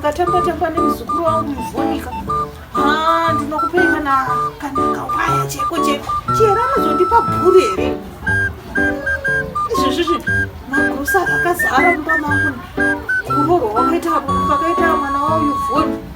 ndakatamba-tamba nemuzukuru wangu muvhonika ha ndinokupei kana kana kawaya cheko cheko chihera anozondipa bhuri here izvezvizvi magrosa akazara mumba mangu kurorwa wakaita mwana wauyu vhoni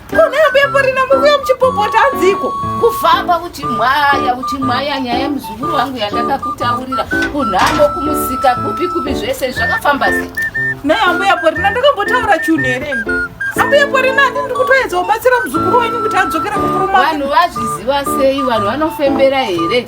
Kuneyo bepo rina mukuya muchipopota hanziko. Kufamba uchimhaya uchimhaya nyaya yemuzukuru wangu yandakakutaurira kunhambo kumusika kupi kupi zvese zvakafamba sei. Nei ambuya Porina ndakambotaura chunhu here? Ambuya Porina ati ndiri kutoedza kubatsira muzukuru wenyu kuti adzokere kukurumaka. Vanhu vazviziva sei? Vanhu vanofembera here?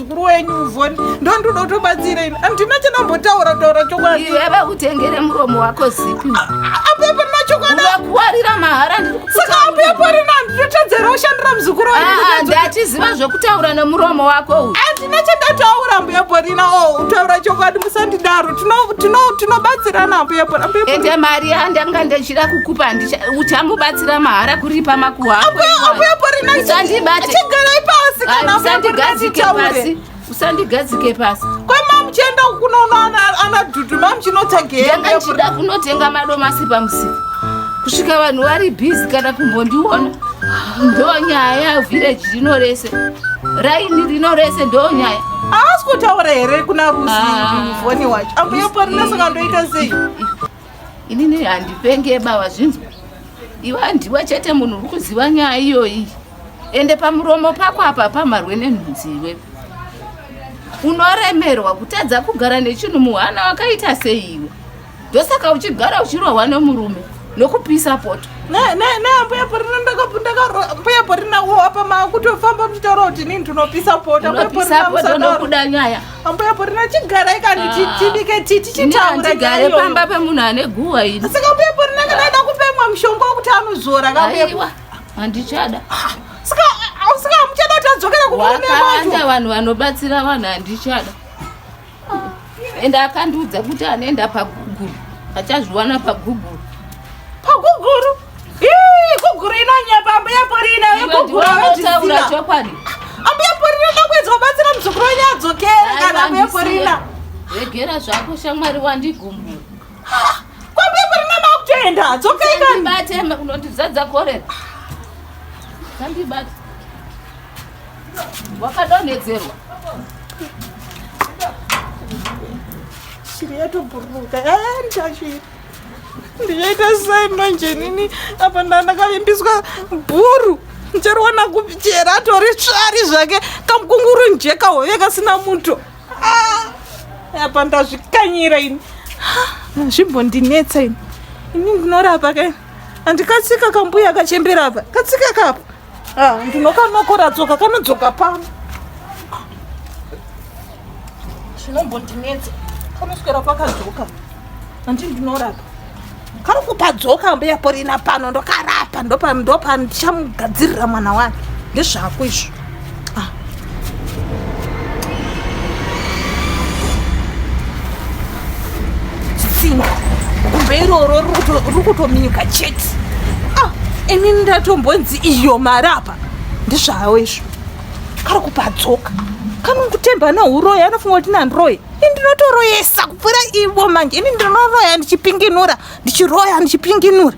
mukuru wenyu uvoni ndo ndoda kutobatsira ini andina chandambotaura taura chokwadi iwe vakutengere muromo wako zipi apepa nachokwadiakuwarira mahara saka apepa rina ndinotadzera ushandira muzukuru ah, ndatiziva zvekutaura nemuromo wako uyu andina chandataura mbuya borina o oh, utaura chokwadi musandidaro tinobatsirana apoyapoende mari yandanga ndichida kukupa uchamubatsira mahara kuripa makuwa akoapoyaporinaisandibatechigarai pasi kana usandigadzike pasi usandigadzike pasi kwemamuchienda kunoona ana dudu mamuchinotsageyanga ndichida kunotenga madomasi pamusika kusvika vanhu vari bhizi kana kumbondiona ndo nyaya vhireji rino rese raini rino rese ndo nyaya haasi kutaura here kuna rusifoni ah. wacho ambuya parina saka ndoita sei inini handipenge baba zvinzwa iwe handiwe chete munhu uri kuziva nyaya iyoyi ende pamuromo pako apa pamharwe nenhunzi iwe unoremerwa kutadza kugara nechinhu muhana wakaita seiwe ndosaka uchigara uchirohwa nemurume nokupisa poto nambuya porina mbuya porina wo apa makutofamba muchitaura kuti nini ndinopisa poto nokuda nyaya ambuya porina chigara ikani ah. tibike titi chitauragare pamba pemunhu ane guwa iri saka mbuya porina kana ida kupemwa mushonga wekuti anozora kaiwa handichada ah, saka ah, saka muchada kuti adzokera kukurume wacho vanhu vanobatsira vanhu handichada ende akandiudza kuti anoenda paguguru achazviwana paguguru paguguru guguru inonyepa ambuya porina vegugurutaura chokwadi ambuya porina ndakuedza kubatsira muzukuru wenyu adzokere kana ambuya porina regera zvako shamwari wandigumbura kwambuya porina makutoenda dzokai kanibate unondizadza korera kandibate wakadonhedzerwa shiri yatobhururuka yayaita shiri ndichaita sai manje nini apa ndandakavimbiswa bhuru ndichariwana kupi chera atori tsvari zvake kamukunguru njeka hove kasina muto ah! apa ndazvikanyira ini nzvimbo ndinetsa ini ini ndinorapa ke andikatsika kambuya kachembera apa katsika kapo Ah, ndinokanokora tsoka kanodzoka pano zvinombondinetsa kanoswera kwakadzoka andii ndinorapa kari kupadzoka mbuya porina pano ndokarapa ndopandichamugadzirira mwana wake ndezvako izvo iroro riri kutominyuka chete ah, ini ndatombonzi iyo marapa ndizvawo izvo kari kupadzoka kanongutemba neuroyi anofunga kuti nandiroyi ini ndinotoroyesa kupfuura ivo manje ini ndinoroya ndichipinginura ndichiroya ndichipinginura